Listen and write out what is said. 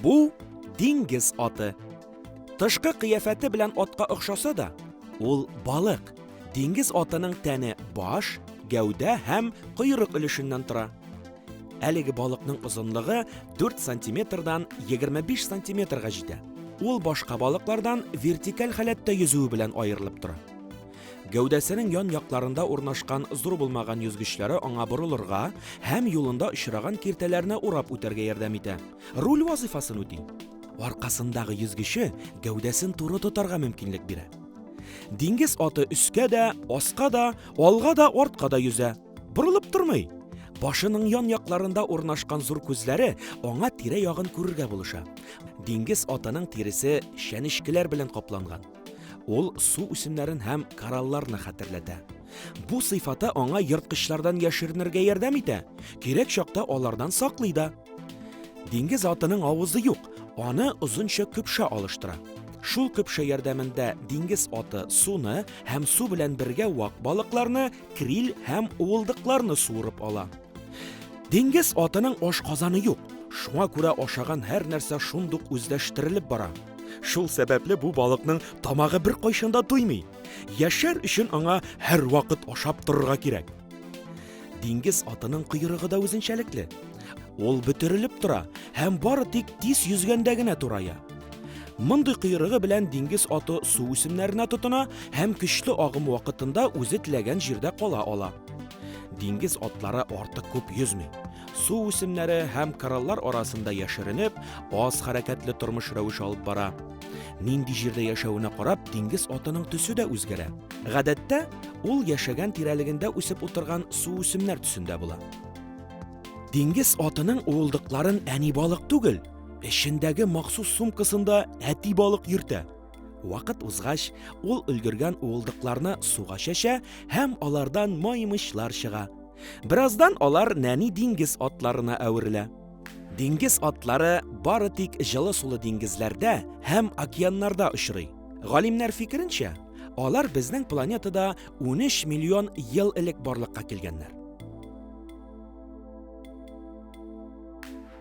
Бу диңгез аты. Тышкы кыяфәте белән атка охшаса да, ул балык. Диңгез атының тәне баш, гәүдә һәм койрык өлешеннән тора. Әлеге балыкның озынлыгы 4 сантиметрдан 25 сантиметрга җитә. Ул башка балыклардан вертикаль халәттә йөзүе белән аерылып тора. Гәүдәсенең ян якларында урнашкан зур булмаган йөзгечләре аңа борылырга һәм юлында очраган киртәләрне урап үтәргә ярдәм итә. Руль вазыйфасын үти. Аркасындагы йөзгече гәүдәсен туры тотарга мөмкинлек бирә. Диңгез аты өскә дә, аска да, алга да, артка да йөзә. Борылып тормый. Башының ян якларында урнашкан зур күзләре аңа тирә ягын күрергә булыша. Диңгез атының тиресе чәнечкеләр белән капланган. Ул су үсемнәрен һәм коралларны хәтерләтә. Бу сыйфаты аңа ерткычлардан яшеренергә ярдәм итә, кирәк чакта алардан саклый да. Диңгез атының авызы юк, аны озынча көпшә алыштыра. Шул көпшә ярдәмендә диңгез аты суны һәм су белән бергә вак балыкларны криль һәм уылдыкларны суырып ала. Диңгез атының ашказаны юк, шуңа күрә ашаган һәр нәрсә шундук үзләштерелеп бара. Шул сәбәпле бу балыкның тамагы бер кайшында туймый. Яшәр өчен аңа һәр вакыт ашап торырга кирәк. Диңгез атының койрыгы да үзенчәлекле. Ул бөтерелеп тора һәм бары тик тиз йөзгәндә генә турая. Мондый кыйрыгы белән диңгез аты су үсемнәренә тотына һәм көчле агым вакытында үзе теләгән җирдә кала ала. Диңгез атлары артык күп йөзми. Су үсемнәре һәм кораллар арасында яшеренеп, аз хәрәкәтле тормыш рәвеше алып бара. Нинди җирдә яшәвенә карап, диңгез атының төсе дә үзгәрә. Гадәттә, ул яшәгән тирәлегендә үсеп утырган су үсемнәр төсендә була. Диңгез атының уылдыкларын әни балык түгел, Эшендәге махсус сумкасында әти балык йөртә. Вакыт узгач, ул өлгергән уылдыкларны суга чәчә һәм алардан маймычлар чыга. Бераздан алар нәни диңгез атларына әверелә. Диңгез атлары бары тик җылы сулы диңгезләрдә һәм океаннарда очрый. Галимнәр фикеренчә, алар безнең планетада 13 миллион ел элек барлыкка килгәннәр.